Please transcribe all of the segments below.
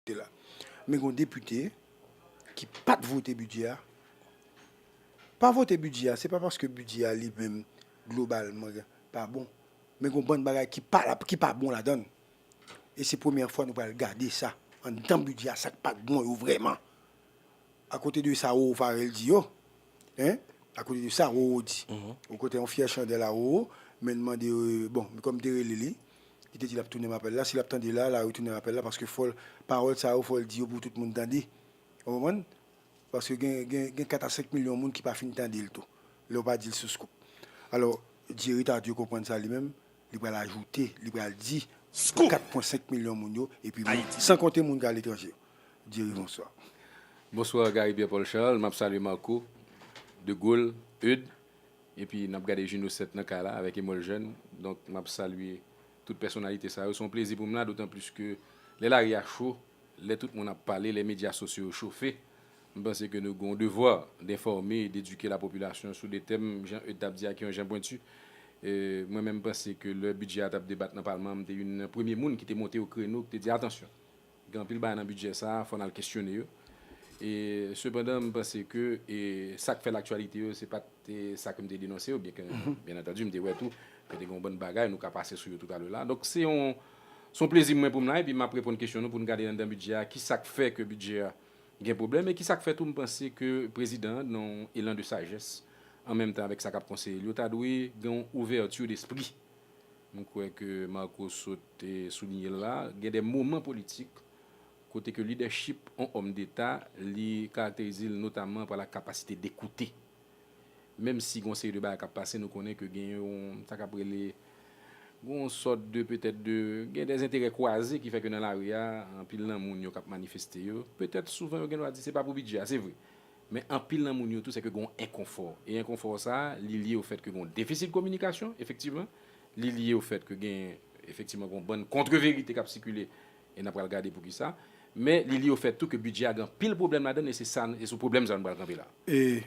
Te la. Men gon depite ki pat vote bidjè a. Pa vote bidjè a se pa paske bidjè a li menm globalman pa bon. Men gon bann bagay ki pa la ki pa bon ladann. E se premyè fwa nou pral gade sa anndan bidjè a sa k pat bon yo vrèman. Akote de sa Roro Pharel di yo hein akote de sa Roro di. Ou kote yon fyè chandèl a Roro men mande bon kòm te rele li. Li te di lap tounem apèl la, si lap tande la, la retounem apèl la paske fòl pawòl sa yo fòl di yo pou tout moun tande. Ou konprann? Paske gen gen gen 4 a 5 milyon moun ki pa fin tande l tou lè ou pa di l sou Scoop. Alò, Jerry Tardieu konprann sa li menm, li pral ajoute, li pral di pou 4 pwen 5 milyon moun yo epi moun, san konte moun ki aletranje yo. Jerry, bonswa. Bonswa Gary Pierre Paul Charles, map salye Marco, De Gaulle, Eudes, Epi nap gade Juno 7 nan kay la avèk Emol Jèn. Donk map salye tout pèsonalite sa yo. Se yon plezi pou m la dotan plis ke lè lari a cho, lè tout moun ap pale, lè medya sosyo yo chofe. M panse ke nou gen yon devwa denfòme e dedike lapopilasyon sou de tèm, jan Eude tap di a, ki yon jan pwentu. Mwen menm panse ke lè bidjè a tap debat nan palman an, m te youn nan premye moun ki te monte o kreno, ki te di atansyon! Gen anpil bagay nan bidjè sa a, fò n al kesyone yo. E sepandan m panse ke sa k fè laktyalite yo se pa t sa ke m te denonse yo, byenke byen antandu m te wè tou ke te gen yon bann bagay, nou ka pase sou yo toutalèla. Donk se yon se yon plezi pou mwen pou m la epi m ap reponn kesyon nou pou n gade anndan bidjè a ki sa k fè ke bidjè a gen pwoblèm e ki sa k fè tou m panse ke prezidan an nan yon elan de sajès an menm tan avèk sa k ap konseye l yo ta dwe gen yon ouvèti despri M kwè ke Marco sot soulinye l la, gen de moman politik kote ke lidèchip on òm deta li karakterize l notaman pa la kapasite de koute. Menm si gen on seri de bagay k ap pase nou konnen ke gen yon sa k ap rele gen on sòt de petèt de gen de enterè kwaze ki fè ke nan lari a anpil nan moun yo k ap manifeste yo petèt souvan yo gen dwa di se pa pou bidjè a se vre Men anpil nan moun yo tou se ke gen yon enkonfò. E enkonfò sa a, li lye ofèt ke gen yon defisi de kominikasyon, efektivman. Li lye ofèt ke gen, efektivman, gen yon bann kontreverite k ap sikile, e n ap pral gade poukisa. Men li lye ofèt tou ke bidjè a gen anpil pwoblèm ladan l, e se sa, e sou pwoblèm sa a nou pral kanpe la. E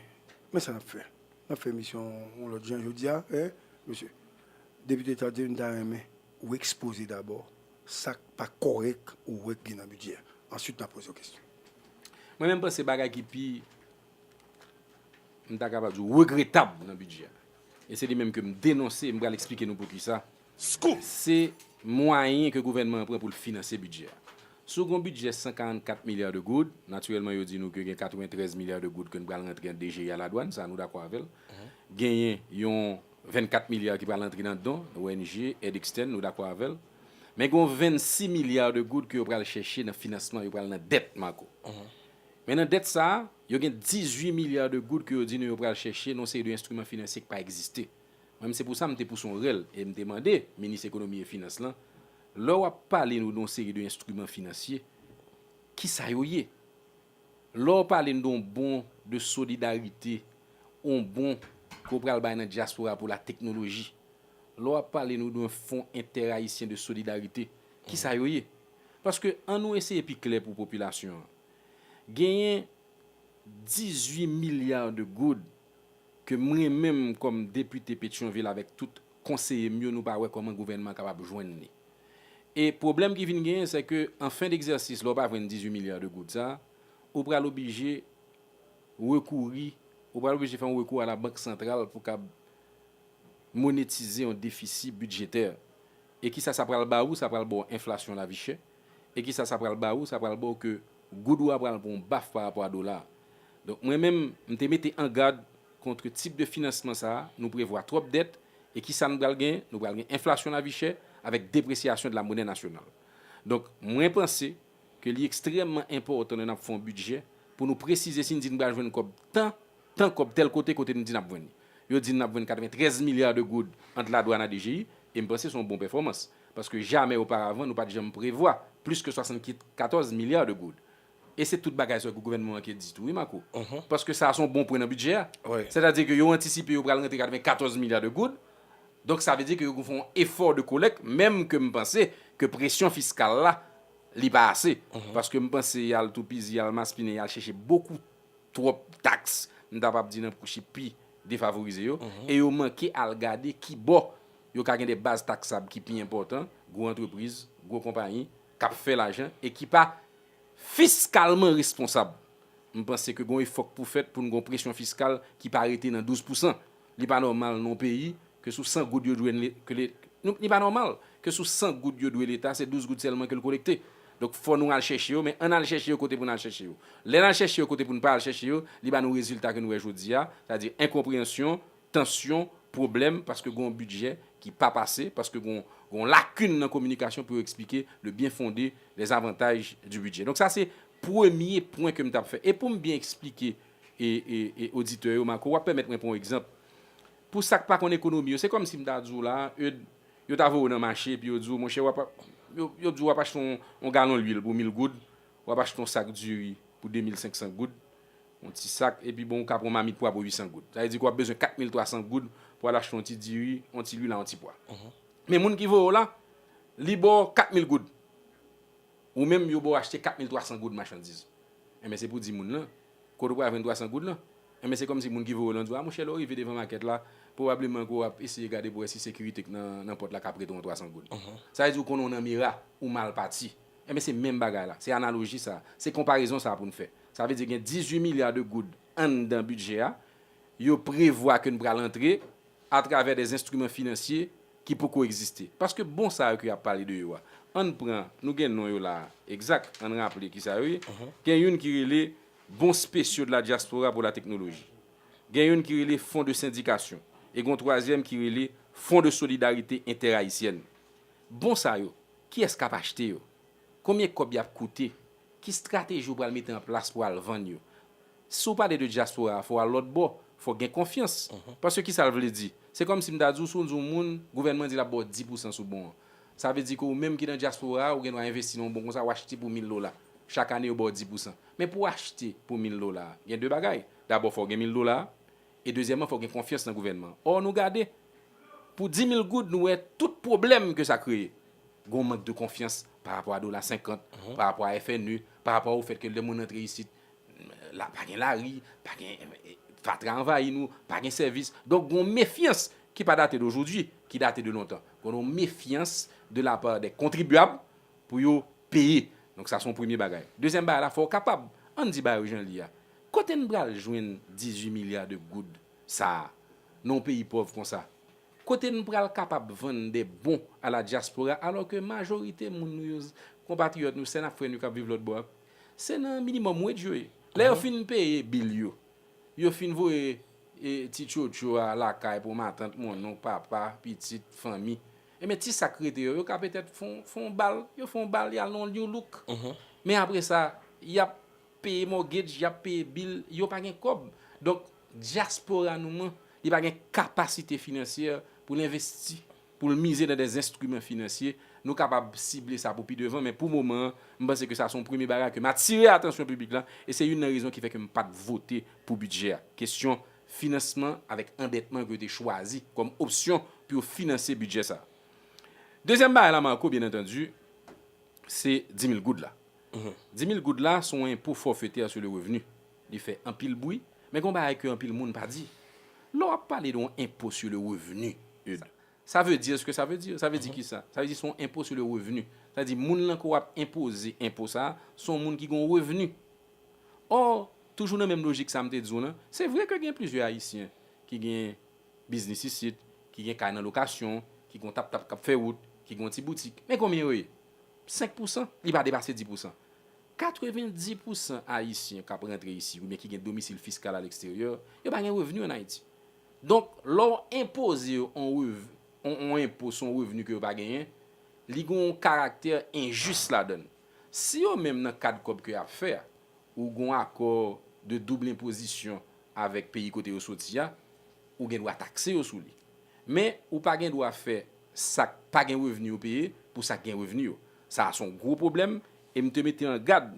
men sa n ap fè. N ap fè emisyon yon lòt jan jodi a, e, mesye. Depite Tardy, m ta renmen Ou ekspoze dabò sa k pa kòrèk ou wè k gen nan bidjè a. Answit m ap poze w kesyon. Mwen menm panse bagay ki pi, m ta kapab di w, regretab nan bidjè a, e se li menm ke m denonse, m pral eksplike nou poukisa, se mwayen ke gouvènman an pran pou l finanse bidjè a. Si w gen yon bidjè 144 milya de goud, natirèlman yo di nou ke gen 93 milya de goud ke n pral rantre an DGI a ladwann, sa nou dakò avè l. Genyen yon 24 milya ki pral antre nan don, ong, èd ekstèn, nou dakò avè l. Men gon 26 milya de goud ke yo pral chèche nan finansman, yo pral nan dèt, Marco. Men nan dèt sa a, yo gen 18 milya de goud ke yo di nou yo pral chèche nan yon seri de enstriman finansye ki pa egziste. Mwen menm se pou sa m te pouse yon rèl e m te mande minis ekonomi e finans lan, lè w ap pale nou de yon seri de enstriman finansye, ki sa yo ye? Lè w pale n de yon bon de solidarite, yon bon ke w pral bay nan dyaspora pou la teknoloji, lè w ap pale nou de yon fon entèrayisyen de solidarite, ki sa yo ye? Paske an nou eseye pi klè pou popilasyon an. Genyen 18 milya de goud ke mwen menm kòm depite Petyonvil avèk tout konseye m yo nou pa wè kòman gouvènman an kapab jwenn li. E pwoblèm ki vin genyen sè ke an fen degzèsis lè w pa jwenn 18 milya de goud sa, ou pral oblije rekouri, ou pral oblije fè yon rekou a la bank santral pou kab monetize yon defisi bidjetè. E kisa sa pral ba ou, sa pral ba w enflasyon lavi chè. E kisa sa pral ba ou, sa pral ba w ke goud ou a pral pran yon baf pa rapò a dola a. Donk mwen menm, m te mete an gad kontre tip de finansman sa a, nou prevwa twòp dèt, E ki sa n pral gen? Nou pral gen enflasyon lavi chè avèk depresyasyon de la monnaie nationale. Donk, mwen panse ke li ekstrèmman enpòtan lè n ap fè yon bidjè pou nou presize si n di n pral jwenn kòb tan, tan kòb tèl kote, kote nou di n ap jwenn li. Yo di n n ap jwenn 93 milya de goud ant ladwann a DGI, e m panse se yon bon pèfòmans. Paske jamè oparavan nou pa t janm prevwa plis ke 74 milya de goud. E se tout bagay sa ke gouvènman an ke di tou wi Marco. Paske sa a se yon bon pwen nan bidjè a. Sètadi ke yo antisipe yo pral rantre 94 milya de goud. Donk sa vle di ke yo fè yon efò de kolèk menm ke m panse ke presyon fiskal la li pa ase. Paske m panse y al toupizi, y al maspinen, y al chèche bokou twòp taks m ta kpab di nan kouchi pi defavorize yo. E yo manke al gade kibò yo ka gen de baz taksab ki pi enpòtan, gwo antrepriz, gwo konpayi. k ap fè lajan e ki pa fiskalman responsab. M panse ke gon efò k pou fèt pou n gon presyon fiskal ki pa rete nan 12 pousan. Li pa nòmal non peyi ke sou 100 goud yo dwe n ke le nou li pa nòmal ke sou 100 goud yo dwe leta se 12 goud sèlman ke l kolekte. Donk fò nou al chèche yo men an n al chèche yo kote pou n al chèche yo. Lè n al chèche yo kote pou n pa al chèche yo li ba nou rezilta ke n wè jodi a sa di enkonpreyansyon tansyon, pwoblèm paske gon bidjè ki pa pase, paske gon gon lakin nan kominikasyon pou yo eksplike le bien fonde, les avantages du budget. Donk sa se premye pwen ke m t ap fè. E pou m byen eksplike e e e oditè yo Marco, w ap pèmèt mwen pran yon egzanp. Pou sa k pa konn ekonomi yo, se kòm si m ta di w la, Eud, yo ta voye w nan mache epi yo di w, monchè w ap yo yo di w w ap achte yon yon galon luil pou mil goud, w ap achte yon sak diri pou 2500 goud, Yon ti sak, epi bon ou ka pran yon mamit pwa pou 800 goud. Sa vle di ke w ap bezwen 4300 goud pou al achte yon ti diri, yon ti lwil ak yon ti pwa. Men moun ki voye w la, li ba w 4000 goud. Ou menm yo ba w achte 4300 goud machandiz. Enben se pou w di moun lan, kote w pral jwenn 300 goud lan? Enben se kòmsi moun ki voye w lan di w, a monchè lè w rive devan makèt la, pwobableman ke w ap eseye gade pou w wè si sekirite k nan pòt la ka prete w yon 300 goud. Sa vle di ou konnen w nan mera, ou mal pati. Enben se menm bagay la, se analoji sa a, se konparezon sa a pou n fè. Sa vle di gen 18 milya de goud anndan bidjè a, yo prevwa ke n pral antre atravè dè enstriman finansye ki poko egziste. Paske bon sa yo ke y ap pale de yo a, an n pran, nou gen non yo la a, egzak, an n raple ki sa yo ye, gen youn ki rele Bons spéciaux de la diaspora pour la technologie, gen youn ki rele Fonds de syndication e gon twazyèm ki rele Fonds de solidarité interhaïtienne. Bon sa yo, kiyès k ap achte yo? Konbyen kòb y ap koute? Ki strateji ou pral mete an plas pou al vann yo? Si w pale de dyaspora a, fò w al lòtbò, fò w gen konfyans. Paske ki sa l vle di? Se kòmsi m ta di w si w di yon moun gouvènman di l ap ba w 10 pousan sou bon an, sa vle di ke ou menm ki nan dyaspora a, ou gen dwa envesti nan yon bon kon sa, w achte pou mil dola. Chak ane yo ba w 10 pousan. Men pou w achte pou mil dola a, gen de bagay. Dabò fò w gen mil dola a, e dezyèmman fò w gen konfyans nan gouvènman an. Ò nou gade, pou dimil goud nou wè tout pwoblèm ke sa kreye. Gen yon mank de konfyans pa rapò a dola 50, pa rapò a FNE, pa rapò a ou fèt ke lè moun rantre isit, la pa gen lari, pa gen, fatra anvayi nou, pa gen sèvis. Donk gen yon mefyans ki pa date dojodwi, ki date de lontan. Gen yon mefyans de la pa dè kontribyab pou yo peye. Donk sa son premye bagay. Dezyèm bagay la, fò ou kapab, an di bagay yo jan li a. Kote n pral jwenn 18 milya de goud sa a nan yon peyi pòv konsa? Kote n pral kapab vann de bon a la dyaspora alò ke majorite moun nou yo, konpatriyòt nou, sè n ak frè nou yo k ap viv lòtbò a, se nan minimòm waj yo ye. Lè yo fin peye bil yo, yo fin voye ti tchotcho a lakay pou matant, monnonk, papa, pitit, fanmi, enben ti sa k rete yo, yo ka petèt fè yon bal, yo fè yon bal, y al nan yon louk. Men apre sa, y ap. peye mortgage yap peye bill yo pa gen kob donk diaspora nou an li pa gen capacité financière poul investi poul mize nan des instruments financier nou kapab sible sa pou pi devan men pou moman an m panse ke sa son premye bagay kem atire atansyon piblik la e se youn nan rezon ki fè kem pat vote pou budget a kesyon finansman avek andetman ke yo te chwazi kom opsyon pou yo finanse budget sa dezyèm bagay la Marco byen entendi se 10 mil goud la Di mil goud la son enpo forfeter sur le revenu. Li fè anpil bwi, men gon bagay ke anpil moun pa di. Lè w ap pale de yon enpo sur le revenu, Eudes, sa veu dir ce que ça veu dire. Sa veu di kisa? Sa veu di son enpo sur le revenu. Sa veu di moun lan ke w ap enpoze enpo sa a, son moun ki gon revenu. Or, toujou nan menm lojik sa m te di w lan, se vre ke gen plizyè Ayisyen ki gen biznis isit, ki gen kay nan lokasyon, ki gon tap-tap k ap fè wout, ki gon ti boutik, men konbyen yo ye? 5 pousan, li pa depase 10 pousan. 90 pousan Ayisyen k ap rantre isi oubyen ki gen domisil fiskal aleksteryè, yo pa gen revni ann Ayiti. Donk, lè w enpoze yo yon rev, yon enpo sou yon revni ke yo pa genyen, li gen yon karaktè enjis ladann. Si yo menm nan kad kòb ke y ap fè a, ou gen yon akò de double enpozisyon avèk peyi kote yo soti a, ou gen dwa takse yo sou li. Men, ou pa gen dwa fè. sa k pa gen revni yo peye pou sa k gen revni yo. Sa a se yon gwo pwoblèm e m te mete an gad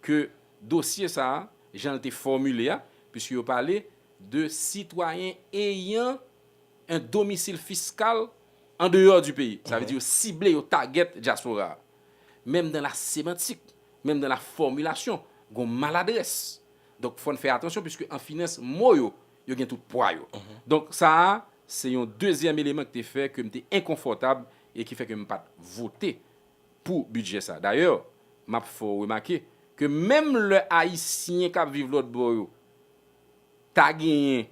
ke dosye sa a, jan l te fòmile a, puiske yo pale de sitwayen eyan un domicile fiscal en dehors du pays, sa vle di yo sible, yo tagèt dyaspora a. Menm dan la semantik, menm dan la fòmilasyon, gon maladrès. Donk fò n fè atansyon puiske an finans mo yo Yo gen tout pwa yo. Donk sa a se yon dezyèm eleman ki te fè ke m te enkonfòtab e ki fè ke m pa t vote pou bidjè sa a. Dayè, m ap fè w remake ke menm lè Ayisyen k ap viv lòtbò yo ta genyen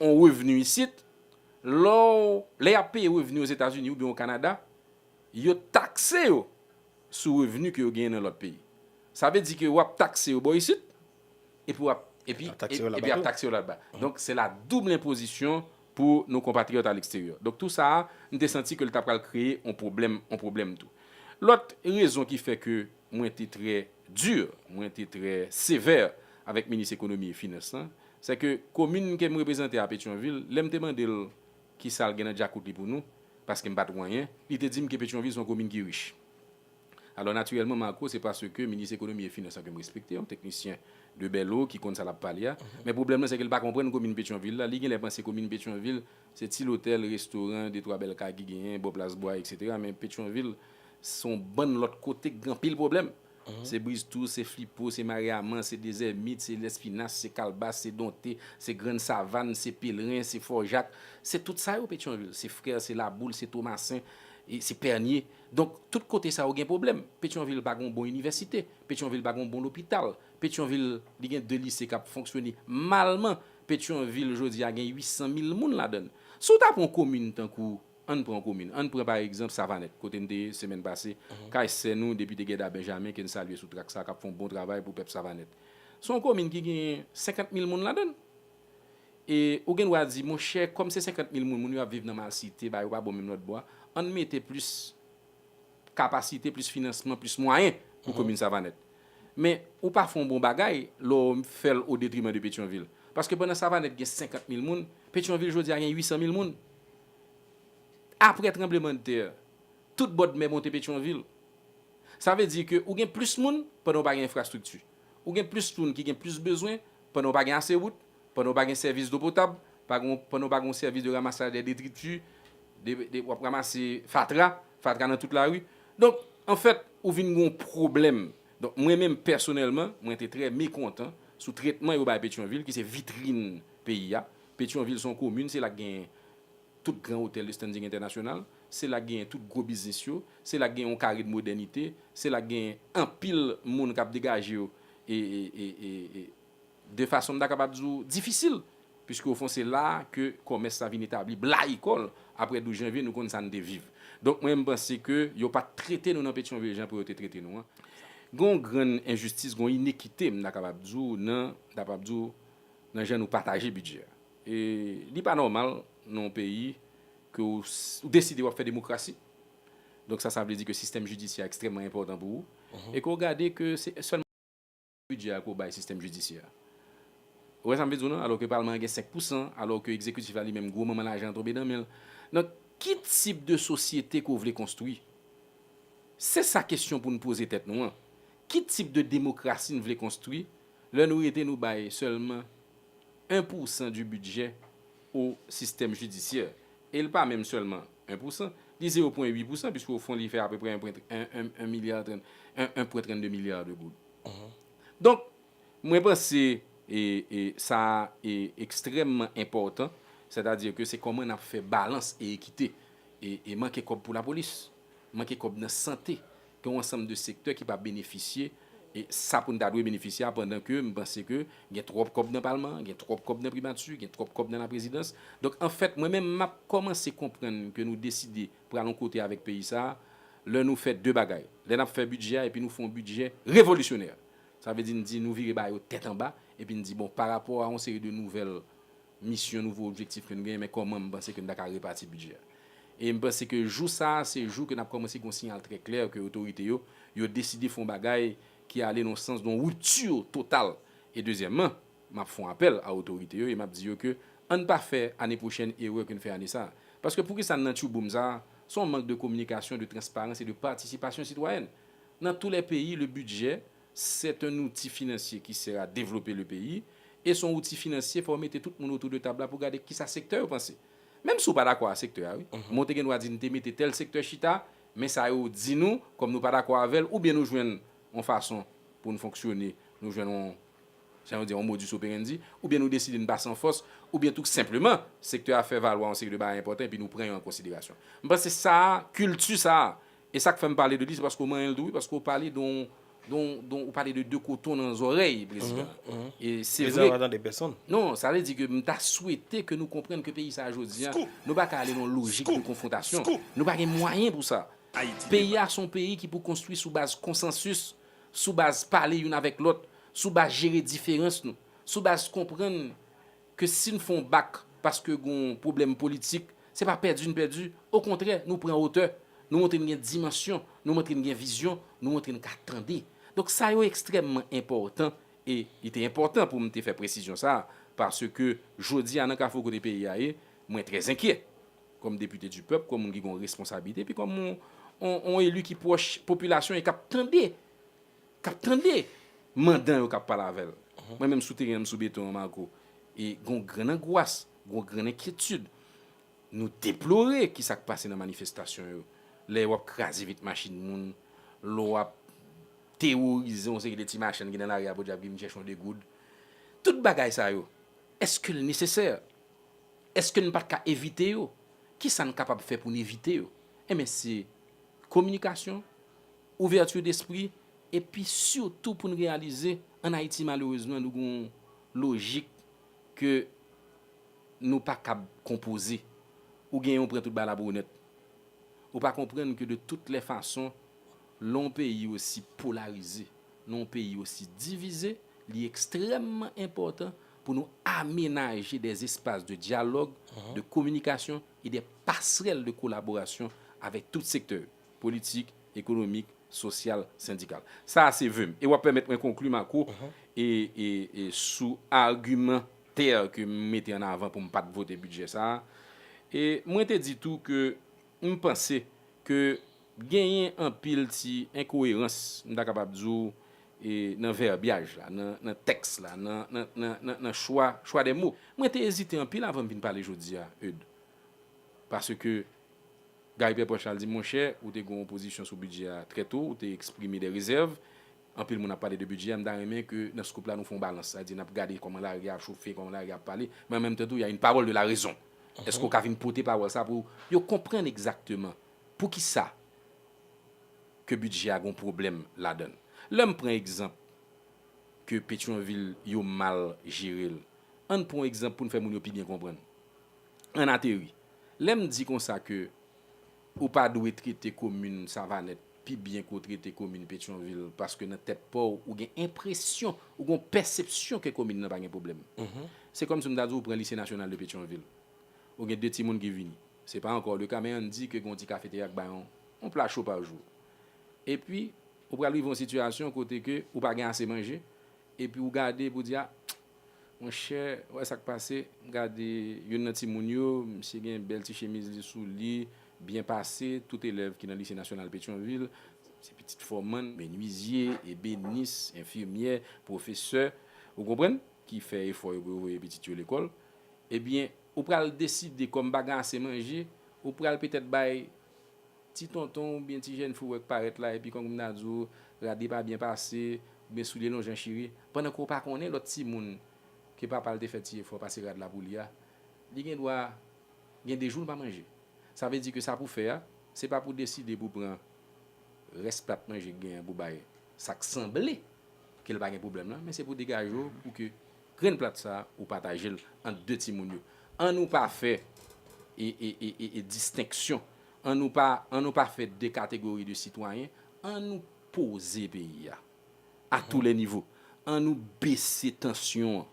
yon revni isit, lè w, lè y ap peye revni Ozetazini oubyen Okanada, yo takse yo sou revni ke yo genyen nan lòt peyi. Sa vle di ke w ap takse yo bò isit, epi wap epi ap taxe yo la ba tou. Epi ap taxe yo la ba. Donk se la double imposition pou nou konpatriyòt a leksteryò. Donk tou sa a, m te santi ke l ta pral kreye on pwoblèm, on pwoblèm tou. Lòt rezon ki fè ke mwen te trè dur, mwen te trè sévère avèk minis ekonomi e finans lan, sè ke komin ke m reprezante a Petyonvil, lè m te mande l ki sa l gen nan djakout li pou nou, paske m pa t wè anyen, li te di m ke Petyonvil se yon komin ki rich. Alò natirèlman Marco se paske minis ekonomi e finans la ke m respekte, yon teknisyen de bèlo ki konn sa l ap pale a. Men pwoblèm lan se ke l pa konprann komin Petyonvil la. Li genlè panse komin Petyonvil se ti lotèl, restoran, de twa bèl kay ki genyen bò plas bwa eksetera. Men Petyonvil se yon bann lòt kote ki gen anpil pwoblèm. Se Briztou, se Flipo, se Maryaman, se Dezèmit, se Lèspinas, se Kalbas, se Donte, se Grann Savann, se Pelren, se Fò Jak. Se tout sa yo Petyonvil. Se Frè, se Laboul, se Tomasen, se Pènye. Donk, tout kote sa yo gen pwoblèm. Petyonvil pa gen yon bon inivèsite. Petyonvil pa gen yon bon lopital. Petyonvil, li gen 2 lise k ap fonksyone malman. Petyonvil jodi a gen 800 mil moun ladan l. Si w ta pran yon komin tankou, ann pran yon komin, ann pran pa egzanp Savanèt, kote m te ye semèn pase, kay sè nou Depite Guedard Benjamin, ke n salye sou trak sa, k ap fè yon bon travay pou pèp Savanèt. Se yon komin ki gen 50 mil moun ladan l. E ou gen dwa di, monchè, kòm se 50 mil moun, moun yo ap viv nan malsite, bagay yo pa bon menm lòtbò a, ann mete plis kapasite, plis finansman, plis mwayen pou komin Savanèt. Men, ou pa fè yon bon bagay lè w fè l odetriman de Petyonvil. Paske pandan Savanèt gen 50 mil moun, Petyonvil jodi a gen 800 mil moun. Apre tranblemanntè, tout bòdmè monte Petyonvil. Sa vle di ke ou gen plis moun pandan ou pa gen enfrastrikti. Ou gen plis moun ki gen plis bezwen Pandan w pa gen ase wout, pandan w pa gen sèvis dlo potab, pandan w pa gen yon sèvis de ramasaj dè detriti, w ap ramase fatra, fatra nan tout lari. Donk, anfèt, ou vin gen yon pwoblèm. Donk, mwen menm pèsonèlman, mwen te trè mekontan sou tretman yo bay Petyonvil ki se vitrin peyi a. Petyonvil se yon komin, se la ki gen Tout gran otèl de standing entènasyonal, se la k genyen tout gwo biznis yo, se la k genyen yon kare de modènite, se la k genyen anpil moun k ap degaje yo e de fason m ta kapab di w difisil piske ofon se la a ke kòmès la vin etabli blayi kò l aprè 12 janvye nou konn sa n te viv. Donk mwen menm m panse ke yo pa t trete nou nan Petyonvil jan pou yo te trete nou an. Gen yon grann enjistis, gen yon inekite m ta kapab di w nan m ta kapab di w nan jan nou pataje bidjè a. E li pa nòmal nan yon peyi ke ou deside wap fè demokrasi, donk sa sa vle di ke sistèm jidisyè a ekstrèmman enpòtan pou ou, e ke ou gade ke se sèlman 5 pousan bidjè a ke ou bay sistèm jidisyè a. Ou wè sa m vle di w nan? Alò ke palman an gen 5 pousan, alò ke egzekitif la li menm gwo manman lajan an tonbe nan men l. Donk ki tip de sosyete ke w vle konstwi? Se sa kesyon pou n poze tèt nou an. Ki tip de demokrasi n vle konstwi lè nou rete nou bay sèlman 1 pou san du budget au système judiciaire e l pa menm sèlman 1 pou san, li 0 pwen 8 pou san puiske o fon li fè apeprè 1 pwen 1 milya 30 1 pwen 32 milya de goud. Donk mwen panse e e sa a e ekstrèmman enpòtan sètadi ke se kòman n ap fè balans e ekite e e manke kòb pou lapolis, manke kòb nan sante, Gen yon ansanm de sektè ki pa benefisye sa pou n ta dwe benefisye a pandan ke m panse ke gen twòp kòb nan palman an, gen twòp kòb nan primati, gen twòp kòb nan laprezidans. Donk anfèt mwen menm m ap kòmanse konprann ke nou deside pral yon kote avèk peyi sa a lè nou fè de bagay. Lè n ap fè bidjè a epi nou fè yon bidjè revolisyonè. Sa vle di n di nou vire ba yo tèt anba epi n di bon parapò a yon seri de nouvèl misyon, nouvo objektif ke n genyen, men kòman m panse ke n ta ka repati bidjè a. E m panse ke jou sa a, se jou ke n ap kòmanse gen yon siyal trè klè ke otorite yo, yo deside fè yon bagay ki ale nan yon sans, nan yon rupture totale. E dezyèmman, m ap fè yon apèl a otorite yo e m ap di yo ke an n pa fè ane pwochèn erè ke n fè ane sa a. Paske poukisa n nan tyouboum sa a? Se yon mank de kominikasyon, de transparans e de patisipasyon sitwayèn. Nan tou lè peyi, le budget, C'est un outil financier qui sert à développer le pays et son outil financier fò ou mete tout moun autour de table la pou gade kisa sektè yo panse. Menm si ou pa dakò a sektè a wi, men ou te gen dwa di nou te mete tèl sektè chita, men sa yo di nou, kòm nou pa dakò avè l oubyen nou jwenn yon fason pou n fonksyone, nou jwenn yon, jan yo di a, yon modus operandi, oubyen nou deside n pa san fòs, oubyen tou senpleman sektè a fè valwa yon seri de bagay enpòtan epi nou pran yo an konsiderasyon. M panse sa a, kilti sa a, E sak fèm pale de li se paske ou manyenl tou wi paske ou pale don don don ou pale de de koton nan zòrèy prezidan e se vre. Prezidan pa tande pèsonn. Non sa vle di ke m ta swete ke nou konprann ke peyi sa jodi a nou pa ka ale nan lojik de konfwontasyon nou pa gen mwayen pou sa. Peyi a se yon peyi ki pou konstwi sou baz konsansis, sou baz pale youn avèk lòt, sou baz jere diferans nou, sou baz konprann. ke si n fè yon bak paske gen yon pwoblèm politik, se pa pèdi n pèdi, okontrè nou pran otè, nou montre n gen dimansyon, nou montre n gen vizyon, nou montre n ka tande. Donk sa yo ekstrèmman enpòtan e li te enpòtan pou m te fè presizyon sa a paske jodi a nan kafou kote peyi a ye, mwen trè zenkyè kòm depite di pèp, kòm moun ki gen yon responsabilite epi kòm yon eli ki pwòch popilasyon e k ap tande. k ap tande mandan yo k ap pale avè l. Mwen menm sou teren an, m sou beton an, Marco, e gen yon grann angwas, gen yon grann enkyetid. Nou deplore ki sa k pase nan manifestasyon yo. Lè w ap kraze vit machin moun, lè w ap teworize yon seri de ti machann ki nan lari a podyab ki vin chèche yon degoud. Tout bagay sa yo, èske l nesesè? Èske n pa t ka evite yo? Ki sa n kapab fè pou n evite yo? Enben, se kominikasyon, Ouverture d'esprit epi surtout pou n reyalize an Ayiti malerezman nou gen yon lojik ke nou pa kab konpoze. Ou genyen ou pran tout bagay la bwonèt. Ou pa konprann ke de tout lè fason lè yon peyi osi polarize, lè yon peyi osi divize li ekstrèmman enpòtan pou nou amenaje dè espas de dyalòg, de kominikasyon e dè pasrèl de kolaborasyon avèk tout sektè yo. politik, ekonomik, sosyal, sendikal. Sa a se ve m. E w ap pèmèt mwen konkli, Marco, sou argumantè ke m mete an avan pou m pa t vote bidjè sa a. E mwen te di tou ke m panse ke genyen anpil ti enkoerans, m ta kapab di w, nan vèbyaj la, nan tèks la, nan chwa de mo. Mwen te ezite anpil avan m vin pale jodi a, Eudes, paske Guy Pè Pòch la di, Monchè, ou te gen yon pozisyon sou bidjè a trè to, ou te eksprime dè rezèv. Anpil moun ap pale de bidjè a, m ta renmen ke nan Scoop la nou fè yon balans. Sa di, n ap gade kòman lari a ap chofe, kòman lari a ap pale, men an menm tan tou ya yn pawòl de la rezon. Eske ou ka vin pote pawòl sa pou yo konprann egzakteman poukisa ke bidjè a gen yon pwoblèm ladan l? Lè m pran egzanp ke Petyonvil yo mal jere l, ann pran yon egzanp pou n fè moun yo pi byen konprann. Ann ateri. Lè m di konsa ke ou pa dwe trete komin Savanèt pi byen ke w trete komin Petyonvil paske nan tèt pa w ou gen enpresyon, ou gen yon pèsepsyon ke komin nan pa gen pwoblèm. Se kòm si m ta di w ou pran Lise Nasyonal de Petyonvil, ou gen de timoun ki vini, se pa ankò le ka men ann di ke gen yon ti kafeterya ki bay yon pla cho pa jou. Epi ou pral rive yon sitiyasyon kote ke ou pa gen ase manje epi ou gade epi ou di a, Monchè ou wè sak pase gade youn nan timoun yo misye gen bèl ti chemiz li sou li byen pase tout elèv ki nan lise nasyonal petyonvil se pitit fòmann, menwizye, ebenis, enfimyè, pwofesè ou konprann ki fè efò yo pou yo voye pitit yo lekòl ebyen ou pral deside kòm pa gen ase manje ou pral petèt bay Ti tonton oubyen ti jèn fi w wè k parèt la epi kòm nan di w rad pa byen pase oubyen soulye lonjan chire pandan ke w pa konnen lòt timoun ke papa l te fè ti efò pase rad la pou li a li gen dwa gen 2 jou l pa manje sa vle di ke sa pou w fè a se pa pou w deside pou w pran rès plat manje k gen an pou w bay sa k sanble ke l pa gen pwoblèm lan men se pou w degaje w pou ke grenn plat sa ou pataje l ant 2 timoun yo an nou pa fè e e e distenksyon An nou pa an nou pa fè de kategori de sitwayen, an nou poze peyi a, a tou lè nivo, an nou bese tansyon an,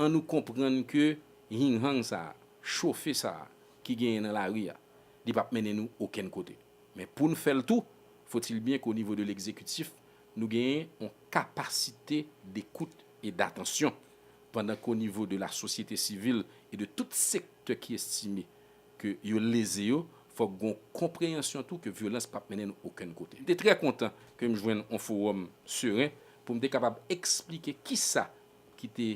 an nou konprann ke hing hang sa a, chofe sa a ki genyen nan lari a, li pap mennen nou okenn kote. Men pou n fè l tou, fo t il byen ke o nivo de legzekitif nou genyen on kapasite dekout e datansyon, pandan ke o nivo de la sosyete sivil e de tout sektè ki estime ke yo leze yo, fòk gon konpreyansyon tou ke vyolans pap mennen nou okenn kote. M te trè kontan ke m jwenn on fowòm seren pou m te kapab eksplike kisa ki te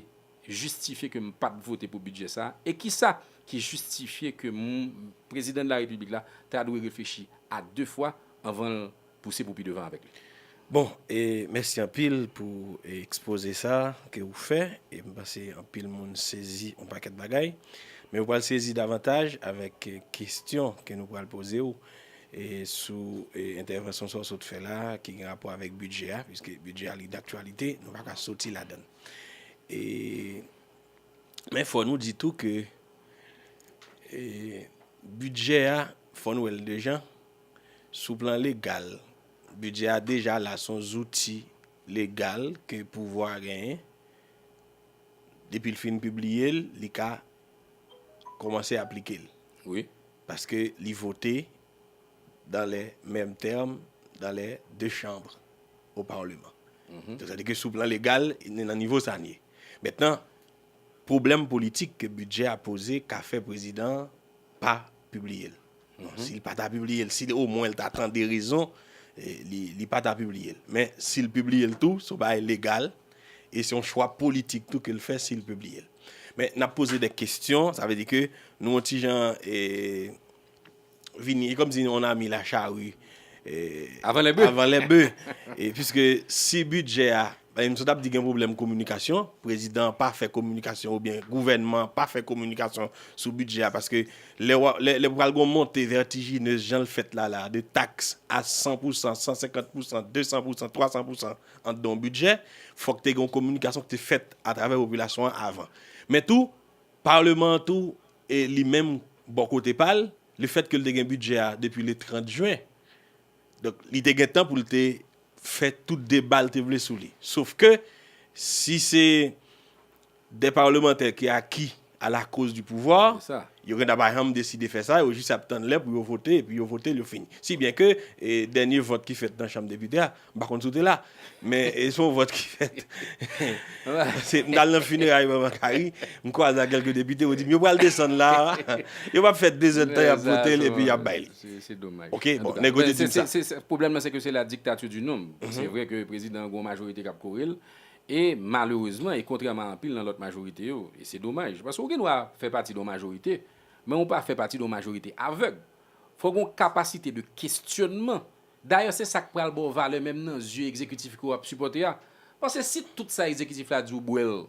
jistifye ke m pat vote pou bidjè sa a e kisa ki jistifye ke m Prezidan de la Repiblik la ta dwe reflechi a 2 fwa anvan l pouse pou pi devan avèk li. Bon e mèsi anpil pou ekspoze sa ke ou fè e m panse anpil moun sezi on pakèt bagay men yo pral sezi davantaj avèk kestyon ke nou pral poze ou e sou entèvansyon sa ou sot fè la ki gen rapò avèk bidjè a piske bidjè a li daktyalite nou pa ka soti ladann e men fò nou di tou ke e bidjè a fò nou wè l de jan. Sou plan legal, bidjè a deja la, son zouti legal ke pouvwa a genyen, depi l fin pibliye l, li ka kòmanse aplike l. Wi. Paske li vote dans les mêmes termes dans les deux chambres au parlement. Donk sa vle di ke sou plan legal, ni nan nivo sa n ye. Mentnan, pwoblèm politik ke bidjè a poze ka fè prezidan an pa pibliye l. Si li pa ta pibliye l, si o mwen li ta tande rezon, li pa ta pibliye l. Men, si li pibliye l tou, se yon bagay legal, e se yon chwa politik tou ke li fè si li pibliye l. Men, n ap poze dè kestyon, sa vle di ke nou yon ti jan vini, e kòm di yon ami la chari, avan lè bè, avan lè bè, e piske si bidjè a, Em sot ap di gen pwoblèm kominikasyon, prezidan an pa fè kominikasyon oubyen gouvènman an pa fè kominikasyon sou bidjè a paske lè wap lè pral gon monte vètijineuz janl fèt la la de taks a 100 pou san, 150 pou san, 200 pou san, 300 pou san an dan yon bidjè fòk te gen yon kominikasyon ki te fèt atravè popilasyon an avan. Men tou Parleman an tou e li menm bò kote pal le fèt ke l te gen bidjè a depi le 30 jwen Donk li te gen tan pou l te fè tout deba l te vle sou li. Sof ke si se 2 parlemantè ki aki a la koz di pouvwa, yo gen ta pa janm deside fè sa, yo jis ap tann lè pou yo vote, epi yo vote l, yo fini. Si byen ke dènye vòt ki fèt nan chanm depite a, m pa konn si w te la, Men e son vòt ki fèt. Pase m t al nan fineray manman Kari, m kwaze ak kèlke depite, yo di m yo pral desann la a, yo p ap fè dezèd tan y ap vote l epi y ap bay li. Se domaj. Ok, bon, nèg yo te di m sa. Se, pwoblèm lan se ke se la dictature du nombre. Se vre ke prezidan an gen yon majorite k ap kore l e malerezman e kontrèman a anpil nan lòt majorite yo, e se domaj. Pase ou gen dwa fè pati de yon majorite, men ou pa fè pati de yon majorite avèg. Fò gen yon kapasite de kestyònman Dayè se sak pral baw valè menm nan zye egzekitif ke wap sipòte a, paske si tout sa egzekitif la di ou bwèl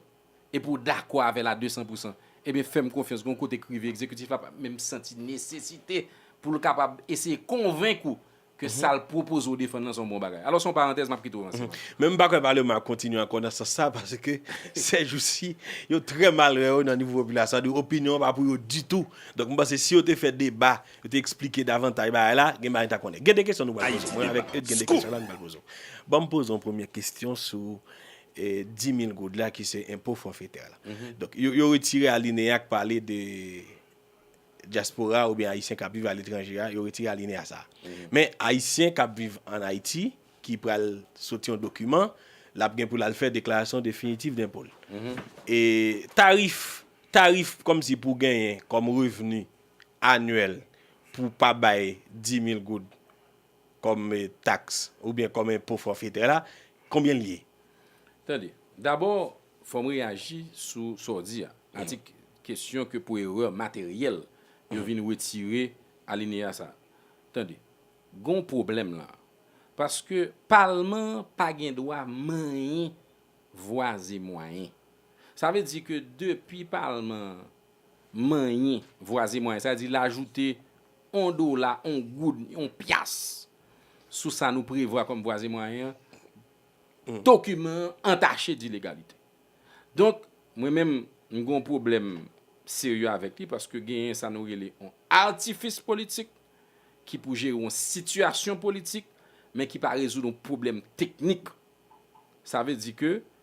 epi ou dakò avèl a 200 pou 100 ebyen fèm konfyans gon kote k rive egzekitif la pap menm santi nesesite poul kapab eseye konvenk ou ke sal pwopoze ou defann lan son bon bagay. Alò son parantèz map kite ou nan silans. Men m pa kwè palema a kontinye ankò nan sans sa paske sèjousi yo trè mal wè yo nan nivo popilasyon sa vle di opinyon an pa pou yo ditou donk m panse si yo te fè deba Yo te eksplike davantay bagay la, gen bagay n ta konnen. Gen de kesyon nou pral poze w. Mwen avèk Eude gen de kesyon la nou pral poze w. Ban m poze w premye kesyon sou 10 mil goud la ki se enpo fòfetè la. Donk, yo retire alineya k pale de dyaspora oubyen ayisyen k ap viv aletranje a, yo retire alineya sa a. Men, ayisyen k ap viv ann Ayiti ki pral soti yon dokiman, l ap gen pou l al fè deklarasyon definitif denpo l. E tarif, tarif kòmsi pou genyen kòm revni anyèl pou pa bay 10000 goud kòm taks oubyen kòm enpo fòfetè la, konbyen l ye? Tande. Dabò, fò m reyaji sou sa w di a. Atik Kesyon ke pou erè materyèl yo vin retire alineya sa a. Tande. Gen yon pwoblèm la a. Paske Palman an pa gen dwa manyen vwa e mwayen. Sa vle di ke depi Palman an manyen vwaze mwayen sa di l ajoute on dola, on goud, on pyas sou sa nou prevwa kòm vwaze mwayen an, dokiman an antache dilegalite. Donk, mwen menm, m gen on pwoblèm serye avèk li paske genyen sa nou rele on atifis politik ki pou jere on sitiyasyon politik men ki pa rezoud on pwoblèm teknik. Sa vle di ke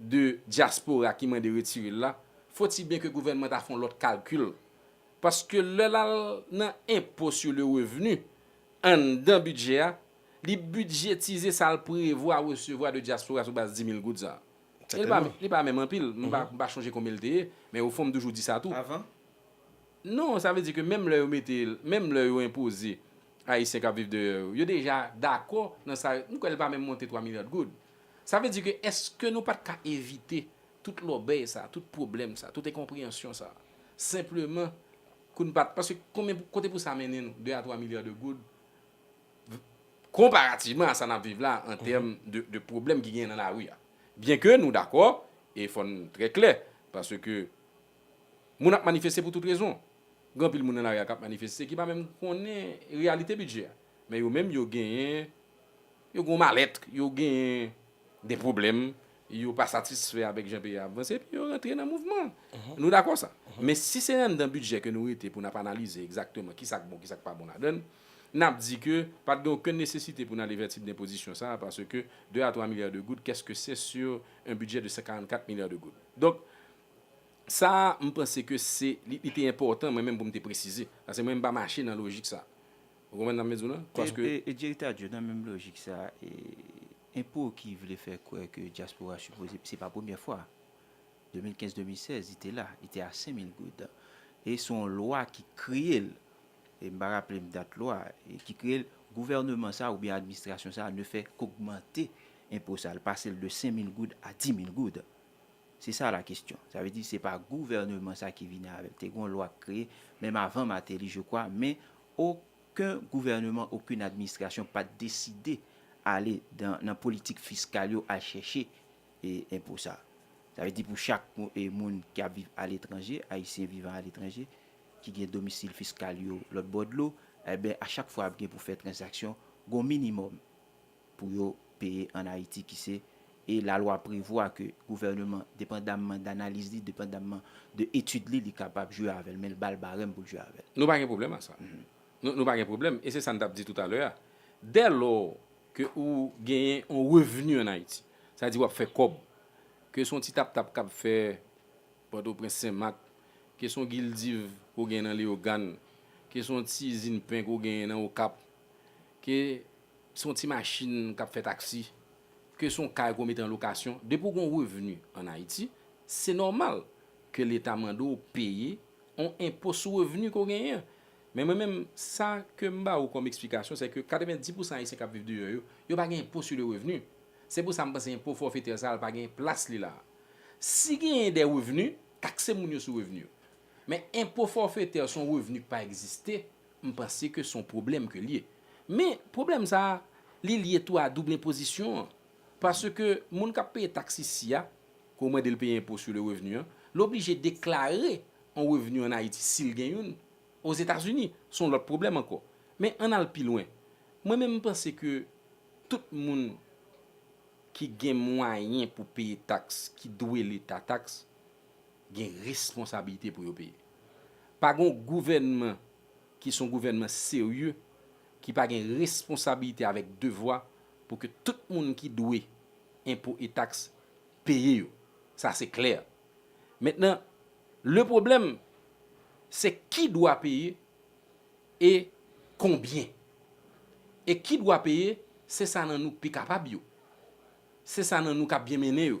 de dyaspora ki mande retire l la, foti byen ke gouvènman ta fè yon lòt kalkil. Paske lè l al nan enpo sur le revenu, anndan bidjè a, li bidjetize sa l prevwa resevwa de dyaspora sou baz 10 mil goud sa a. Sètènman. Li pa menm anpil, m pa m pa chonje konbyen l te ye, men ofon m toujou di sa tou. Avan? Non, sa vle di ke menm lè yo mete, menm lè yo enpoze Ayisyen k ap viv deyò yo, yo deja dakò nan sa yo, m kwè l pa menm monte 3 milya goud. Sa vle di ke èske nou pa t ka evite tout lòbèy sa, tout pwoblèm sa, tout enkonpreyansyon sa, senpleman kou n pa t, paske konbyen, kote pou sa mennen nou, 2 a 3 milya de goud, konparativman a sa n ap viv la an tèm de pwoblèm ki genyen nan lari a. Byen ke nou dakò, e fò n trè klè, paske moun ap manifeste pou tout rezon. Gen anpil moun nan lari a k ap manifeste ki pa menm konnen reyalite bidjè a, men yo menm yo genyen. Yo gen yon malèt, yo genyen de pwoblèm, yo pa satisfè avèk jan peyi a ap vanse, epi yo rantre nan mouvman. Nou dakò sa? Men si se anndan bidjè ke nou rete pou n ap analize egzakteman ki sa k bon, ki sa k pa bon ladan l, n ap di ke pa t gen okenn nesesite pou n ale vè tip denpozisyon sa a paske 2 a 3 milya de goud, kès ke se sur un budget de 144 milya de goud. Donk, sa a, m panse ke se, li te enpòtan mwen menm pou m te presize, paske mwen m pa mache nan lojik sa a. Ou konprann sa m vle di w lan? Paske. E Direktè Adjwen nan menm lojik sa a, enpo ki vle fè kwè ke dyaspora sipoze, se pa premyè fwa, 2015, 2016 li te la, li te a 5000 goud. E se yon lwa ki kreye l, e m pa raple m dat lwa, ki kreye l, gouvèneman sa a oubyen administrasyon sa a ne fè k'ogmante enpo sa a, l pase l de 5000 goud a 10000 goud. Se sa la kestyon. Sa vle di se pa gouvèneman sa a ki vini avè l. Te gen yon lwa ki kreye, menm avan Martelly je kwa, men Oken gouvèneman, oken administrasyon pa t deside ale nan politik fiskal yo al chèche enpo sa. Sa vle di pou chak moun ki ap viv aletranje, Ayisyen vivan aletranje, ki gen domisil fiskal yo lòtbò dlo, enben a chak fwa y ap gen pou fè tranzaksyon, gon minimòm pou yo peye an Ayiti ki se e lalwa prevwa ke gouvèneman depandamman danaliz li, depandamman de etid li, li kapab jwe avè l men l ba l barèm pou l jwe avè l. Nou pa gen pwoblèm a sa. Nou pa gen pwoblèm e se sa n t ap di toutalè a, dè lò ke ou genyen yon revni an Ayiti, sa di w ap fè kòb, ke se yon ti tap tap k ap fè Pòtoprens, Senmak, ke se yon gildiv ke w genyen nan Leyogàn, ke se yon ti izin pen ke w genyen nan Okap, ke Se yon ti machin k ap fè taksi, ke se yon kay ke w mete an lokasyon, depi w gen yon revni an Ayiti, se nòmal ke Leta mande w peye yon enpo sou revni ke w genyen an. Men mwen menm, sa ke m ba ou kòm eksplikasyon, se ke 90 pousan Ayisyen k ap viv deyò yo, yo pa gen enpo sou le revni. Se pou sa m panse enpo fòfetè sa a l pa gen plas li la a. Si genyen de revni, takse moun yo sou revni yo. Men enpo fòfetè se yon revni ki pa egziste. M panse ke son pwoblèm ke l ye. Men, pwoblèm sa a, li lye tou a double enpozisyon an. Paske moun k ap peye taks isi a, ke w mande l peye enpo sou le revni an, l oblije deklare yon revni an Ayiti, si l gen youn, Ozetazini. Se yon lòt pwoblèm ankò. Men, ann al pi lwen. Mwen menm m panse ke tout moun ki gen mwayen pou peye taks, ki dwe Leta taks, gen responsabilite pou yo peye. Pa gen yon gouvènman ki se yon gouvènman serye ki pa gen responsabilite avèk devwa pou ke tout moun ki dwe enpo e taks peye yo. Sa se klè. Mentnan, le pwoblèm se ki dwa peye e konbyen. E ki dwa peye se sa nan nou pi kapab yo. Se sa nan nou k ap byen mennen yo.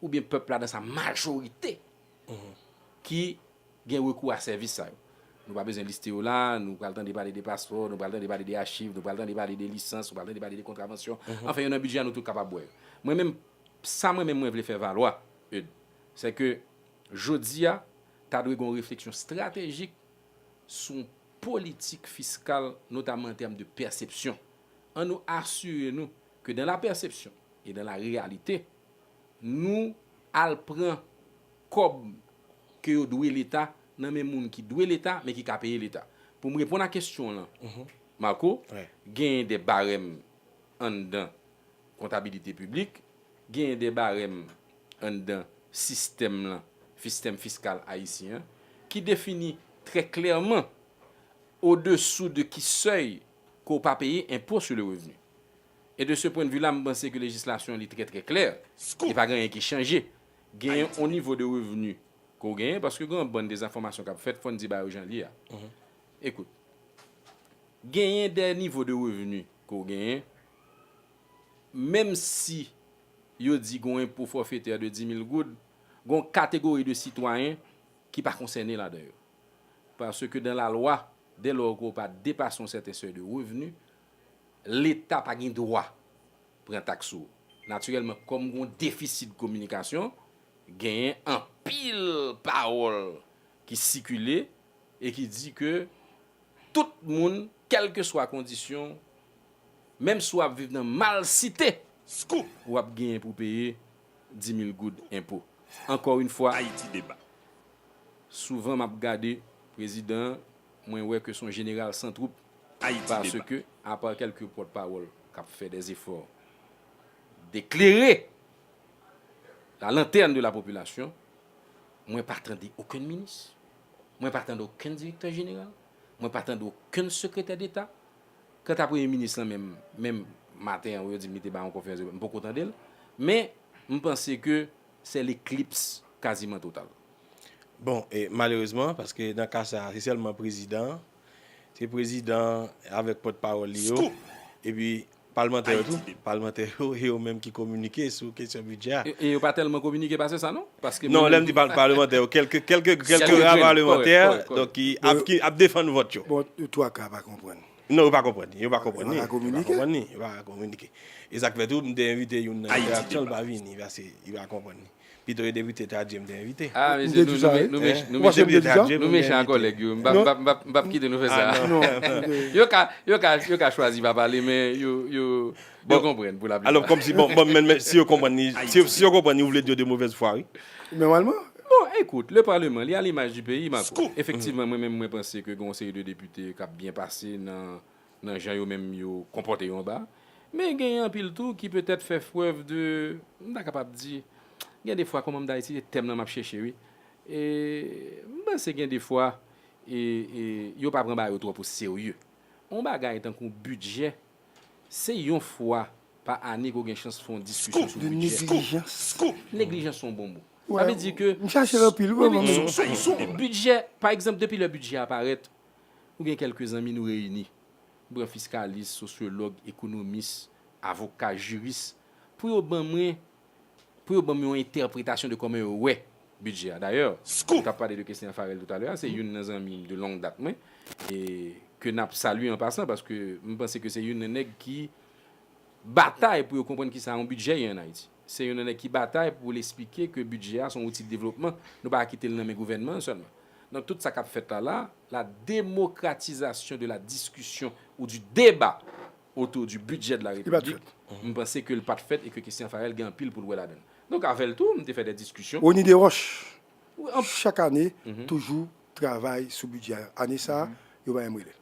ou byen pèp la nan sa majorite ki gen rekou a sèvis sa yo. Nou pa bezwen liste yo la, nou pral tande pale de paspò, nou pral tande pale de achiv, nou pral tande pale de lisans, nou pral tande pale de kontravansyon, anfen yo nan bidjè a nou tout kapab wè yo. Mwen menm, sa mwen menm mwen vle fè valwa, Eudes, sè ke jodi a, ta dwe gen yon refleksyon stratejik sou yon politik fiskal notamman an tèm de pèsepsyon. An nou asire nou Ke dan la pèsepsyon e dan la reyalite nou al pran kòb ke yo dwe leta nan men moun ki dwe leta men ki ka peye leta. Pou m reponn a kesyon w lan Marco, genyen de barèm anndan kontabilite piblik, genyen de barèm anndan sistèm lan, sistèm fiskal ayisyen an ki defini trè klèman odesou de ki sèy, ke w pa peye enpo sou le revni. E de se pwendvi la m panse ke lejislasyon li trè trè klè e pa gen anyen ki chanje. Gen yon nivo de revni ke w genyen paske gen yon bann dezenfòmasyon k ap fèt fò n di bagay yo jan l ye a. Ekout, genyen dè nivo de revni ke w genyen menm si yo di gen yon enpo fòfetè de 10 mil goud, gen yon kategori de sitwayen ki pa konsène ladan yo. Paske dan lalwa, dè lò ke w pa depase yon sèten sèy de revni, leta pa gen dwa pran taks sou ou. Natirèlman, kòm gen yon defisi de kominikasyon, genyen anpil pawòl ki sikile e ki di ke tout moun, kèlkeswa kondisyon w, menm si w ap viv nan malsite, w ap genyen pou w peye 10 mil goud enpo. Ankò yon fwa. Souvan map gade prezidan an mwen wè ke son jeneral san twoup paske apa kelke pòt pawòl kap fè dè efò de klere la lantèn de la popilasyon mwen pa tande okenn minis mwen pa tande okenn direktè jeneral mwen pa tande okenn sekretè deta kanta premye minis lan menm menm maten an yo dim li te bay yon konferans de près m poko tandel men m panse ke Sè leklips kaziman total. Bon, e malerezman, paske nan ka sa a, se sèlman prezidan an, se prezidan an avèk pòt pawòl li yo, epi palmantè yo tou, palmantè yo, e yo menm ki kominike sou kesyon bidjè a. E yo pa tèlman kominike pase sa non, paske mwen menm. Non, lè m di palmantè yo, kèlke, kèlke, kèlke ra palmantè, donk ki ap, ki ap defann vòt yo. Bon, twaka pa konprann. Non yo pa konprann ni, yo pa konprann ni, yo pa konprann ni, yo pa kominike. E sa k fè tou m te envite youn nan entèraksyon l pa vini paske li pa konprann ni. Pito yo te vite tradui m te envite. A mesye nou nou mechan nou mechan kòlèg yo m pap kite nou fè sa. Yo ka chwazi pa pale men yo yo Yo konprann pou la plipa. Alò kòmsi bon bon men si yo konprann li si yo konprann li ou vle di yo de movèz fwa wi. Nòmalman. Bon ekout le parlement li a l'image du pays Marco. Efektivman mwen menm mwen panse ke gen yon seri de depite kap byen pase nan nan jan yo menm yo konpòte yo anba men genyen anpil tou ki petèt fè frèv de m ta kapab di gen defwa kòman m ta iti se tèm lan map chèche wi e m panse gen defwa e e yo pa pran bagay yo twòp o serye. On bagay tankou bidjè. Se yon fwa pa ane ke w gen chans fè yon diskisyon sou bidjè. Scoop! Neglijans. Scoop! Neglijans se yon bon mo. Sa vle di ke. M chache l anpil wi mwen menm. Scoop! Scoop! Bidjè, pa egzanp depi lè bidjè a parèt, nou gen kèlke zanmi nou reyini, nou pran fiskalis, sosyològ, ekonomis, avoka, jiris, pou yo ban mwen pou yo ban m yon entèpretasyon de kòman yo wè bidjè a. Dayè, nou t ap pale de Kesner Pharel toutalè a, se youn nan zanmi m de long dat mwen, e ke n ap salye an pasan, paske m panse ke se youn nan nèg ki batay pou yo konprann kisa yon bidjè ye an Ayiti. Se youn nan nèg ki batay pou l esplike ke bidjè a se yon wouti de devlopman, nou pa ka kite l nan men gouvènman an sèlman. Donk, tout sa k ap fèt la la, la demokratizasyon de la diskisyon ou di deba, autour du budget de la République, m panse ke l pa t fèt e ke Christian Farel gen anpil pou l wè ladan l. Donk avè l tou, m te fè dè diskisyon. Rony Desroches, Chak ane, toujou travay sou bidjè a. Ane sa a, yo pa menm rele l.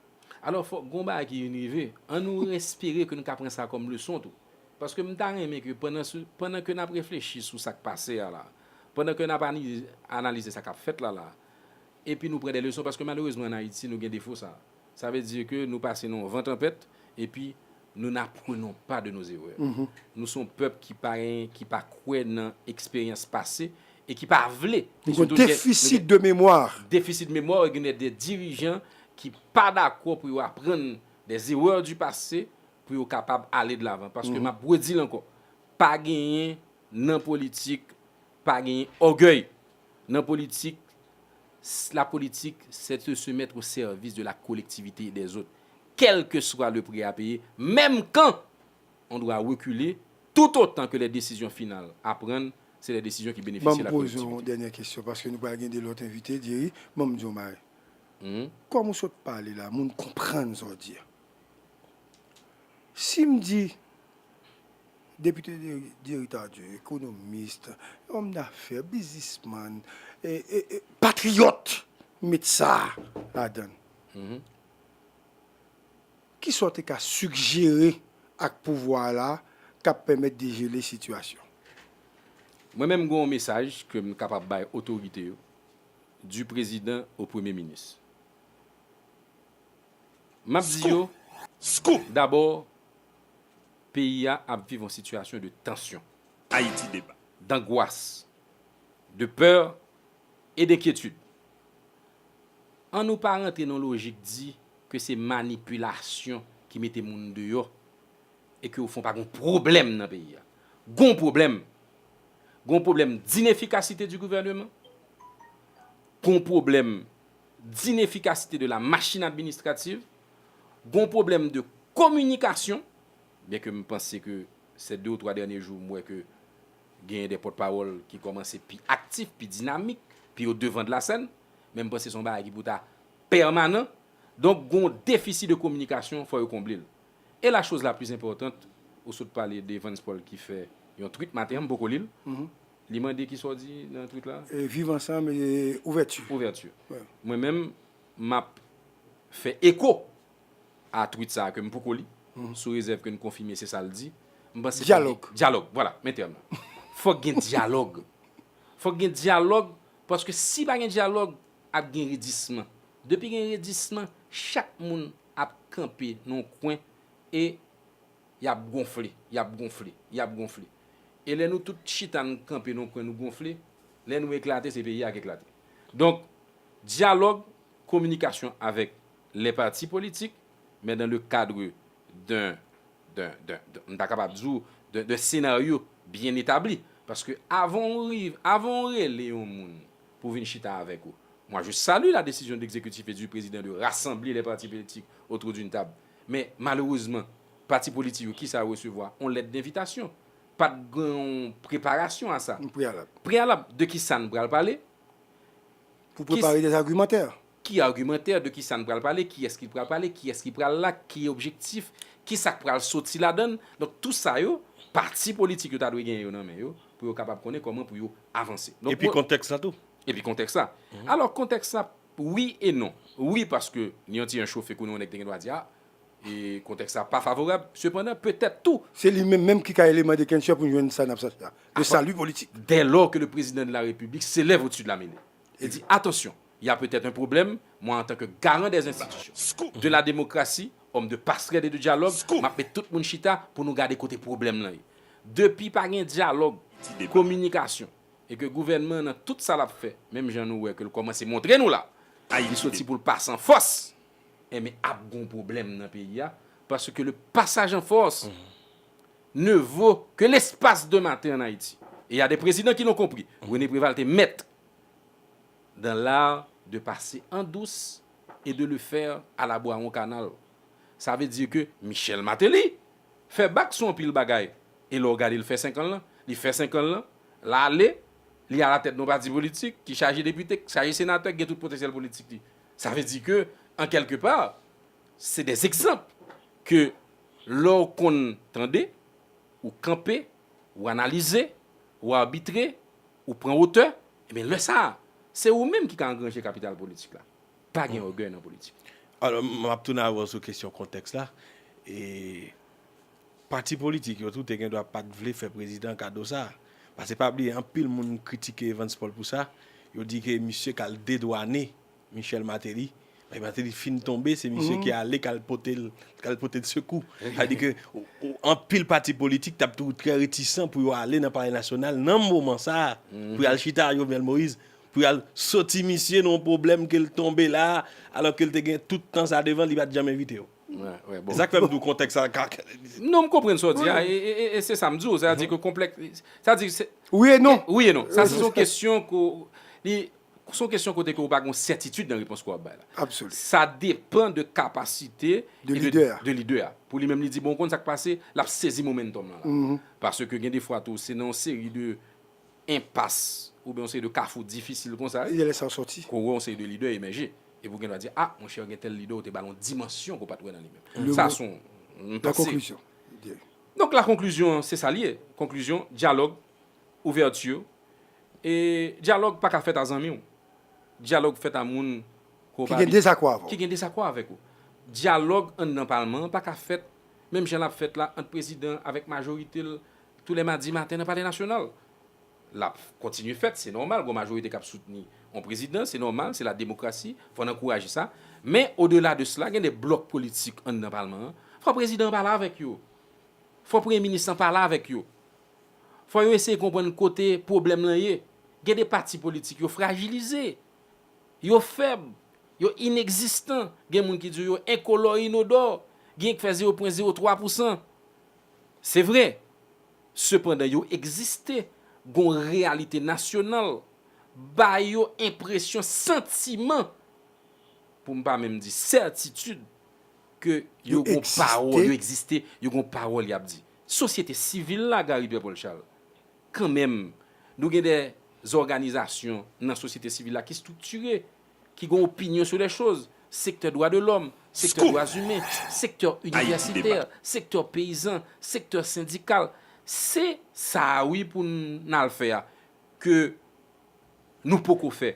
Alò, fòk gen yon bagay ki vin rive. An nou espere ke nou ka pran sa kòm leson tou. Paske m ta renmen ke pandan se, pandan ke n ap reflechi sou sa k pase a la, pandan ke n ap analize sa k ap fèt la la, epi nou pran dè leson, paske malerezman an Ayiti nou gen defo sa a. Sa ve di ke nou pase nan yon van tanpèt epi nou n'apprenons pas de nos erreurs. Nou son pèp ki pa gen, ki pa kwè nan eksperyans pase e ki pa vle. Nou gen defisit de mémoire. Defisit memwa e gen de dirijan ki pa dakò pou yo aprann des erreurs du passé pou yo kapab ale de l'avant. Paske m'ap redi l ankò, pa genyen nan politik, pa genyen ògèy. Nan politik, s la politik se te se mètre o sèvis de la kolektivite e dè zot, kèlke swa le pri a peye, menm kan on dwa rekile tout otan ke lè desizyon final a prann se lè desizyon ki benefisye la kolektivite. Banm poze w on dènyè kesyon, paske nou pral gen de lòt envite, Jerry, banm di w yon bagay. Kòm ou sot pale la, moun konprann sa w di a. Si m di Depite Jerry Tardieu, ekonomist, òm dafè, bizisman, patriyòt, m met sa a ladan l, ki sa w te ka sigjere ak pouvwa a la k ap pèmèt dejele sitiyasyon? Mwen menm m gen yon mesaj ke m kapab bay otorite yo, du prezidan o premye minis. M ap di yo, dabò, peyi a ap viv yon sitiyasyon de tansyon, dangwas, de pè e denkyetid. An nou pa rantre nan lojik di ke se manipilasyon ki mete moun deyò e ke ofon pa gen yon pwoblèm nan peyi a. Gen yon pwoblèm. Gen yon pwoblèm d'inefficacité du gouvernement. Gen yon pwoblèm. d'inefficacité de la machine administrative, gon problème de communication, bien que m panse ke ces deux ou trois derniers jours m wè ke genyen des porte-parole ki kòmanse pi actif, pi dynamique, pi au devant de la scène, men m panse se yon bagay ki pou ta permanent. Donc gon déficit de communication fò yo konble l. Et la chose la plus importante, ou sot pale de Evans Paul ki fè yon tweet maten an, m poko li l, Li mande ki sa w di nan tweet la? Viv ansanm e ouvèti. Ouvèti. Mwen menm m ap fè eko a tweet sa a ke m poko li, sou rezèv ke n konfime se sa l di. M panse. Dyalòg. Dyalòg. Vwala, men tèm nan. Fòk gen dyalòg. Fòk gen dyalòg paske si pa gen dyalòg, ap gen redisman. Depi gen redisman, chak moun ap kanpe nan yon kwen e Y ap gonfle, y ap gonfle, y ap gonfle. E lè nou tout chita nou kanpe nan yon kwen nou gonfle, lè nou eklate se peyi a k eklate. Donk, dyalòg, kominikasyon avèk les partis politiques men dans le cadre d'un d'un d'un m ta kapab di w d'un d'un scénario bien établi paske avan w riv avan w rele yon moun pou vin chita avèk ou moi je salue la décision d'exécutif et du président de rassembler les partis politiques autour d'une table Men, malerezman, pati politi yo, kisa yo resevwa? On lèt denvitasyon. Pa t gen on preparasyon a sa. On preyalab. Preyalab de kisa n pral pale. Pou prepare de argumantè. Ki argumantè, de kisa n pral pale, kiyès ki pral pale, kiyès ki pral la, ki objektif, kisa k pral soti ladan l. Donk, tou sa yo, pati politik yo ta dwe gen yo nan men yo, pou yo kapab konnen kòman pou yo avanse. Epi kontèks la tou. Epi kontèks la. Alò, kontèks la Wi e non. Wi paske li yon ti jan chofe kounye yon nèg te gen dwa di a e kontèks la pa favorab. Sepandan petèt tou. Se li menm menm ki ka eleman deklenchè pou n jwenn sa n ap chache a, le salut politique. Dès lors que le Président de la République s'élève au-dessus de la mêlée et dit, attention, il y a peut-être un problème, moi en tant que garant des institutions, de la démocratie, homme de passerelle et de dialogue, m ap met tout moun chita pou nou gade kote pwoblèm lan ye. Depi pa gen dyalòg, kominikasyon. e ke gouvènman an nan tout sa lap fè, menm jan nou wè ke l kòmanse montre nou la, li soti pou l pa san fòs, enben ap gon pwoblèm nan peyi a, parce que le passage en force ne vaut que l'espace d'un matin en Haïti. Et il y a des présidents qui l'ont compris. René Préval te maître dans l'art de passer en douce et de le faire à la boiron canal. Sa vle di ke Michel Martelly Fè bak sou anpil bagay e lè w gade l fè senkan l lan, li fè senkan l lan, l ale, li alatèt yon pati politik ki chaje depite, ki chaje senatè, ki gen tout potansyèl politik li. Sa vle di ke an kèlke pa, se de egzanp ke lè w konn tande, ou kanpe, ou analize, ou arbitre, ou pran wotè, enben lè sa a, se ou menm ki ka angranje kapital politik la. Pa gen ògèy nan politik. Alò, m ap tounen avè w sou kesyon kontèks la. E pati politik yo tou te gen dwa pa t vle fè prezidan kado sa a. Pase pa bliye anpil moun kritike Evans Paul pou sa. Yo di ke misye k al dedwane Michel Martelly. Lè Martelly fin tonbe, se misye ki ale k al pote l, k al pote l sekou. Sa vle di ke anpil pati politik t ap toujou trè retisan pou yo ale nan palè nasyonal nan moman sa a pou y al chita ak Jovenel Moïse. Pou y al soti misye nan yon pwoblèm ke l tonbe la, alò ke l te gen tout tan sa devan l, li pa t janm envite yo. E sa k fè m di w kontèks la ka. Non, m konprann sa w di a, e se sa m di w. Sètadi ke konplèks, sètadi. Wi e non. Wi e non. Sa se yon kesyon ke w, li, se yon kesyon kote ke w pa gen yon sètitid nan repons ke w ap bay la. Absoli. Sa depan de kapasite. De lidè a. De lidè a. Pou li menm li di, bon, w konn sa k pase, l ap sezi momentum lan la. Paske gen de fwa tou, se nan yon seri de. enpas oubyen yon seri de kafou difisil konsa, Lidè lè sa yo sòti. ke w wè yon seri de lidè emèje, epi w gen dwa di, a, monchè, gen tèl lidè ou te ba l yon dimansyon ke w pa t wè nan li menm. Le Sa mot, se yon la pase. conclusion, de. Donk la conclusion an, se sa l ye. Conclusion, dyalòg, ouverture, e dyalòg pa ka fèt a zanmi w. Dyalòg fèt a moun ke w Ki pa gen abi, dezakò avè w. ki gen dezakò avèk ou. Dyalòg anndan palman an pa ka fèt menm jan l ap fèt la ant prezidan avèk majorite l, Tou lè madi maten nan Palè Nasyonal. L ap kontinye fèt, se nòmal, gon majorite k ap soutni on prezidan, se nòmal, se lademokrasi, fò n ankouraje sa. Men, odela de sela, gen de blòk politik anndan palman an, fò prezidan an pale avèk yo. Fò premye minis lan pale avèk yo. Fò yo eseye konprann kote pwoblèm lan ye. Gen de pati politik yo frajilize. Yo fèb. Yo inekzistan. Gen moun ki di w yo enkolò e inodò. Genyen ki fè zewo pwen zewo twa pousan. Se vre, sepandan yo egziste, gon reyalite nasyonal, ba yo enpresyon santiman, pou m pa menm di sètitid, ke yo gon pawòl, yo egziste, yo gon pawòl y ap di. Sosyete sivil la, Gary Pierre Paul Charles, kanmenm, nou gen de zòganizasyon nan sosyete sivil la ki striktire, ki gen opinyon sou lè choz, sektè dwa de lòm, sektè dwa zimen, sektè inivèsitè, sektè peyizan, sektè sendikal. Se sa a wi pou n al fè a ke nou poko fè.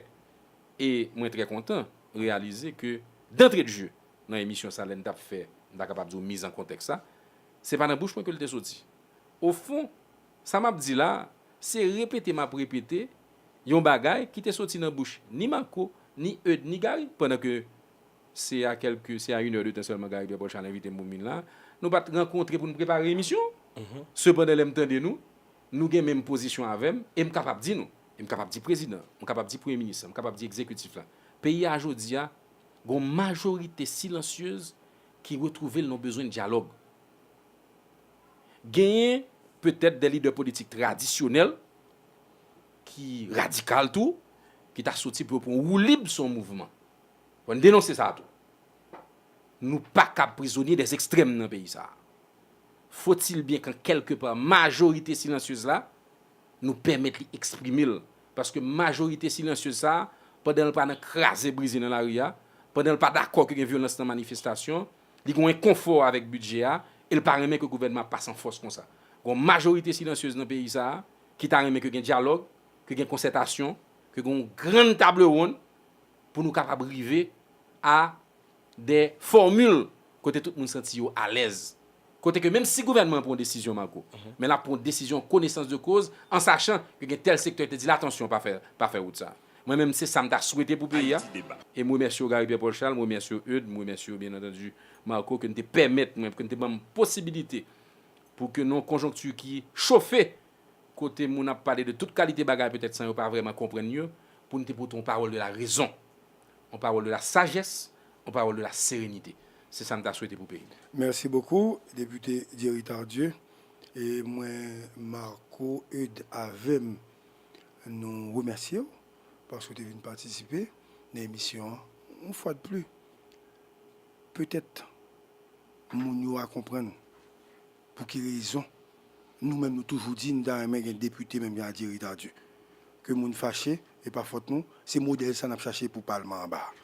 E mwen trè kontan reyalize ke dantre de je nan emisyon sa lè n t ap fè, m ta kapab di w miz an kontèks la, se pa nan bouch mwen ke l te soti. Ofon, sa m ap di la a, se repete m ap repete Yon bagay ki te soti nan bouch ni Marco, ni Eude, ni Gary, pandan ke se a kèlke, se a une heure de temps sèlman Gary Pierre-Paul Charles envite m pou m vin la a. Nou pa t rankontre pou n prepare emisyon an. Sepandan lè m tande nou, nou gen menm pozisyon avè m, e m kapab di nou, e m kapab di prezidan an, m kapab di premye minis lan, m kapab di ekzekitif la, peyi a jodi a, gon majorite silansyez ki retwouve l nan bezwen dyalòg. Genyen petèt dè lidè politik tradisyonèl ki radikal tou, ki ta soti pou yo pran woulib sou yon mouvman. Fò n denonse sa tou. Nou pa kab prizonye dè ekstrèm nan peyi sa a. Fotilbyen kan kèlke pa majorite silansyez la, nou pèmèt li eksprime l. Paske majorite silansyez sa a, pandan l pa nan kraze brize nan lari a, pandan l pa dakò ke gen vyolans nan manifestasyon, Li gen enkonfò avèk bidjè a e l pa renmen ke gouvènman ap pase an fòs konsa. Gen yon majorite silansyez nan peyi sa a ki ta renmen ke gen dyalòg, ke gen konsètasyon, ke gen yon grann tablewonn pou nou kapab rive a de fòmil kote tout moun santi yo alèz. Kote ke menm si gouvènman an pran yon desizyon Marco, men l ap pran yon desizyon an konesans de koz, an sachan ke gen tèl sektè ki te di l atansyon pa fè wout sa a. Mwen menm se sa m ta swete pou peyi a. E m remèsye w Gary Pierre Paul Charles, m remèsye w Eudes, m remèsye w byen antandi Marco ke n te pèmèt mwen, ke n te ban m posibilite pou ke nan yon konjonkti ki chofe, kote moun ap pale de tout kalite bagay petèt san yo pa vrèman konprann yo, pou n te pote yon pawòl de la rezon, yon pawòl de la sajès, yon pawòl de la serenite. Se sa m ta swete pou peyi m. Merci beaucoup Député Jerry Tardieu. E mwen Marco Eudes avè m. Nou remèsye w paske w te vin patisipe nan emisyon an. Yon fwa de pli, petèt moun yo a konprann pou ki rezon nou menm nou toujou di n ta renmen gen depite menm jan a Jerry Tardieu. Ke moun fache, e pa fòt nou, se modèl sa n ap chache pou palman anba a.